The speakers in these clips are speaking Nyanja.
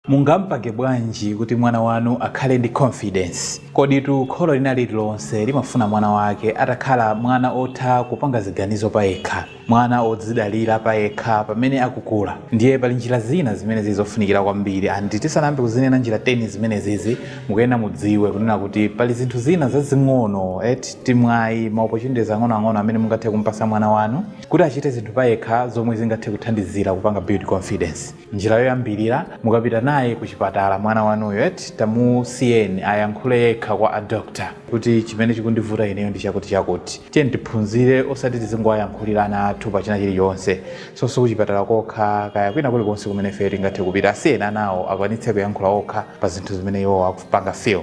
Mungapange bwanji kuti mwana wanu akhale ndi confidence? Koditu kholo lina lililonse limafuna mwana wake atakhala mwana otha kupanga ziganizo payekha, mwana odzidalira payekha pamene akukula. Ndiye pali njira zina zimene zili zofunikira kwambiri and tisanayambe kuzinena njira 10 zimenezizi mukuyenera mudziwe kunena kuti pali zinthu zina zazing'ono eti, timwayi, ma opportunities ang'onoang'ono amene mungathe kumpatsa mwana wanu kuti achite zinthu payekha zomwe zingathe kuthandizira kupanga build confidence. Njira yoyambirira, mukapita naye ku chipatala mwana wanuyo eti, tamusiyeni ayankhule yekha kwa a doctor kuti chimene chikundivuta ineyo ndi chakuti chakuti. Tiyeni tiphunzire osati tizingowayankhulira ana athu pa china chilichonse. So sikuchipatala kokha kaya kwina kulikonse kumene ifeyo tingathe kupita, asiyeni anawo akwanitse kuyankhula okha pa zinthu zimene iwowo akupanga feel.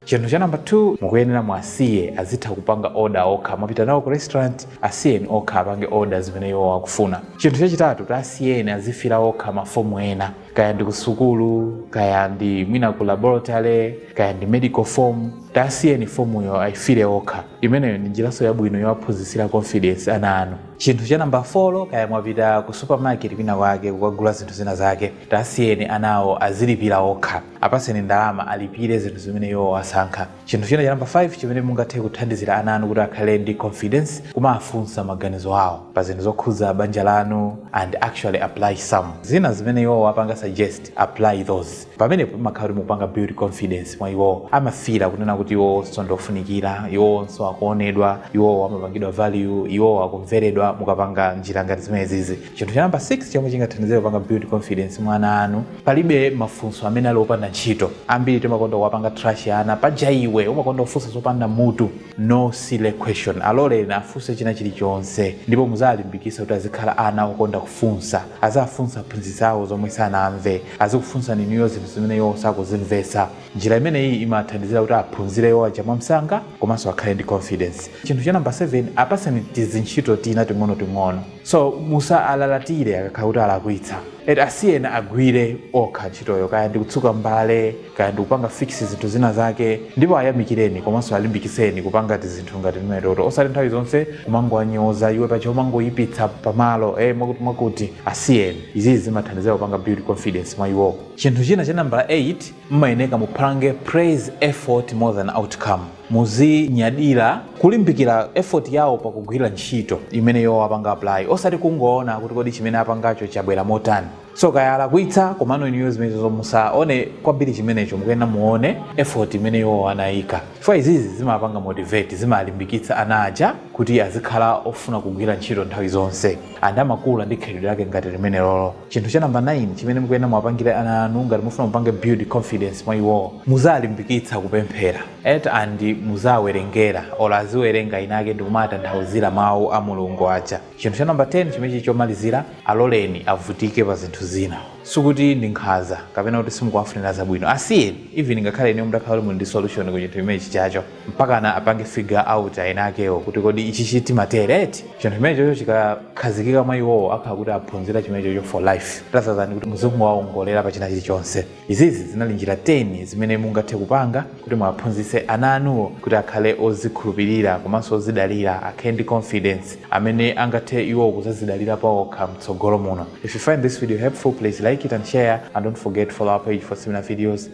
Chinthu cha number 2, mukuyenera muwasiye azitha kupanga order okha. Mwapita nawo ku restaurant, Asiyeni okha apange order zimene iwowo akufuna. Chinthu chachitatu, tasiyeni azifira okha ma form ena, kaya ndi kusukulu, kaya ndi mwina ku laboratory, kaya ndi medical form, tasiyeni fomuyo ayifire okha. Imeneyo ndi njiranso yabwino yowaphunzitsira confidence ana anu. Chinthu cha number folo, kaya mwapita ku supermarket kwina kwake kukagula zinthu zina zake, tasiyeni anawo azilipira okha. Apatseni ndalama alipire zinthu zimene iwowo asankha. Chinthu china cha namba 5 chimene mungathe kuthandizira ana anu kuti akhale ndi confidence kumawafunsa maganizo awo pa zinthu zokhudza banja lanu and actually apply some zina zimene iwowo apanga suggest apply those pamenepo pamakhala kuti mukupanga build confidence mwa iwowo amafira kunena kuti iwowonso ndi ofunikira iwowonso akuonedwa iwowo amapangidwa value iwowo akumveredwa mukapanga njira ngati zimenezizi chinthu cha namba 6 chomwe chingathandizire kupanga build confidence mwa ana anu Palibe mafunso amene ali opanda ntchito. Ambiri timakonda kuwapanga trash ana. Paja iwe umakonda kufunsa zopanda mutu. No silly question. Aloleni afunse china chilichonse. Ndipo muziwalimbikitsa kuti azikhala ana okonda kufunsa. Aziwafunsa aphunzitsi awo zomwe sanamve. Azikufunsani inuyo zinthu zimene iwowo sakuzimvetsa. Njira imeneyi imawathandizira kuti aphunzire iwo aja mwamsanga komanso akhale ndi confidence. Chinthu cha number 7, apatseni tizintchito tina ting'onoting'ono. so musawalalatire akakhala kuti alakwitsa eti asiyeni agwire okha ntchitoyo kaya ndikutsuka mbale kaya ndikupanga fix zinthu zina zake ndipo ayamikireni komanso alimbikitseni kupanga tizinthu ngati timenetoto osati nthawi zonse kumangowanyoza iwe paja umangoyipitsa pamalo eh, mwakuti mwakuti asiyeni izizi zimathandizira kupanga build confidence mwa iwowo chinthu china cha nambala 8 mmayeneka mupange praise effort more than outcome muzinyadira kulimbikira effort yawo pakugwira ntchito imene iwo apanga apply osati kungoona kuti kodi chimene apangacho chabwera motani so kaya alakwitsa komano inuyo zimenezo musaone kwambiri chimenecho mukuyenera muone effort imene iwo anayika chifukwa izizi zimapanga motivate zimalimbikitsa ana aja kuti azikhala ofuna kugwira ntchito nthawi zonse and amakula ndi khalidwe lake ngati limenelolo chinthu cha namba 9 chimene mukuyenera muwapangire ana anu ngati mufuna mupange build confidence mwa iwowo muziwalimbikitsa kupemphera et and muziwawerengera olo aziwerenga inake ndikumawatanthauzira mawu a mulungu aja chinthu cha namba 10 chimene chili chomalizira aloleni avutike pa zinthu zina sikuti ndi nkhaza kapena kuti simukuwafunira zabwino asiyeni even ngakhale inuyo mutakhala kuti muli ndi solution ku chinthu chimene chichocho mpakana apange figure out eni akewo kuti kodi ichichi timatere eti chinthu chimenechocho chikakhazikika mwa iwowo akhala kuti aphunzira chimenechocho for life rather than kuti muzingowaongolera pa china chilichonse izizi zinali njira 10 zimene mungathe kupanga kuti muwaphunzitse ana anuwo kuti akhale ozikhulupirira komanso ozidalira akhale ndi confidence amene angathe iwowo kuzazidalira paokha mtsogolo muno if you find this video helpful please like it and share and don't forget to follow our page for similar videos